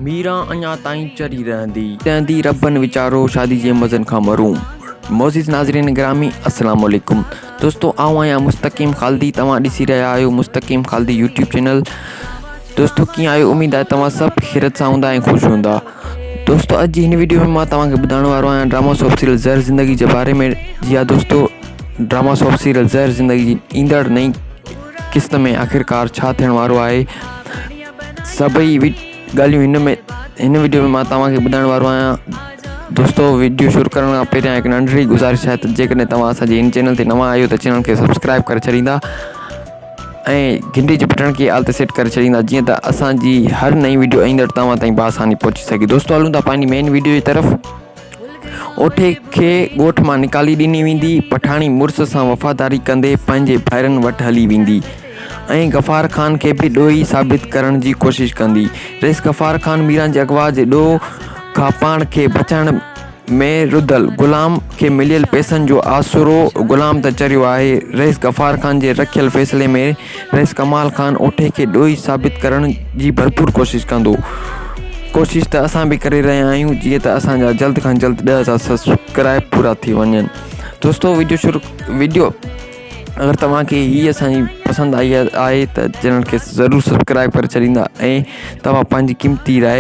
ميران اڃا تائين چري رهندي. تنهندي ربن ويچارو شادي جي مزن کان محروم. معزز ناظرين گرامي السلام عليڪم دوستو آئون آهيان مستقيم خالدي توهان ڏسي رهيا آهيو مستقيم خالدي يوٽيوب چينل دوستو ڪيئن آهيو اميد آهي توهان سڀ خيرت سان هوندا ۽ خوش هوندا دوستو اڄ جي هن ويڊيو ۾ مان توهان کي ٻڌائڻ وارو آهيان drama soap serial Zehr Zindagi جي باري ۾ جي ها دوستو drama soap serial Zehr Zindagi جي ايندڙ نئين قسط ۾ آخرڪار ڇا ٿيڻ وارو آهي سڀئي ڳالهيون هن ۾ هن وڊيو ۾ مان توهان کي ٻڌائڻ وارو آهيان دوستو وڊيو شروع ڪرڻ کان پهريان هڪ ننڍڙي گذارش آهي ته جيڪڏهن توهان اسان جي هن چينل تي نوان آهيو ته چينل کي سبسڪرائب ڪري ڇڏيندا ۽ گهنٽي جي بٽڻ کي آل تي سيٽ ڪري ڇڏيندا جيئن ته اسان جي هر نئين وڊيو ايندڙ توهان تائين بآساني پهچي سگهي دوستو هلون ٿا پنهنجي مين وڊيو جي طرف اوٺي کي ڳوٺ مان نڪالي ڏني ويندي، پٺاڻي مڙس سان وفاداري ڪندي پنهنجي ڀائرن وٽ هلي ويندي ۽ غفار خان کي به ڏوهي ثابت ڪرڻ جي ڪوشش ڪندي. رئيس غفار خان ميران جي اغوا جي ڏوهه کان پاڻ کي بچائڻ ۾ رڌل، غلام کي مليل پئسن جو آسرو غلام ته چريو آهي، رئيس غفار خان جي رکيل فيصلي ۾ پريس ڪمال خان اوٺي کي ڏوهي ثابت ڪرڻ جي ڀرپور ڪوشش ڪندو. ڪوشش ته اسان به ڪري رهيا آهيون جيئن ته اسان جا جلد کان جلد ڏهه هزار سبسڪرائب پورا ٿي وڃن. دوستو ويڊيو شروع ويڊيو اگر توهان کي هي اسان جي پسند آئي آهي ته چينل کي ضرور سبسڪرائب ڪري ڇڏيندا ۽ توهان پنهنجي قيمتي راء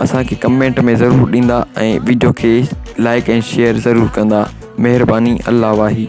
اسان کي ڪمينٽ ۾ ضرور ڏيندا ۽ ويڊيو کي لائڪ ۽ شيئر ضرور ڪندا مهرباني الله واهي.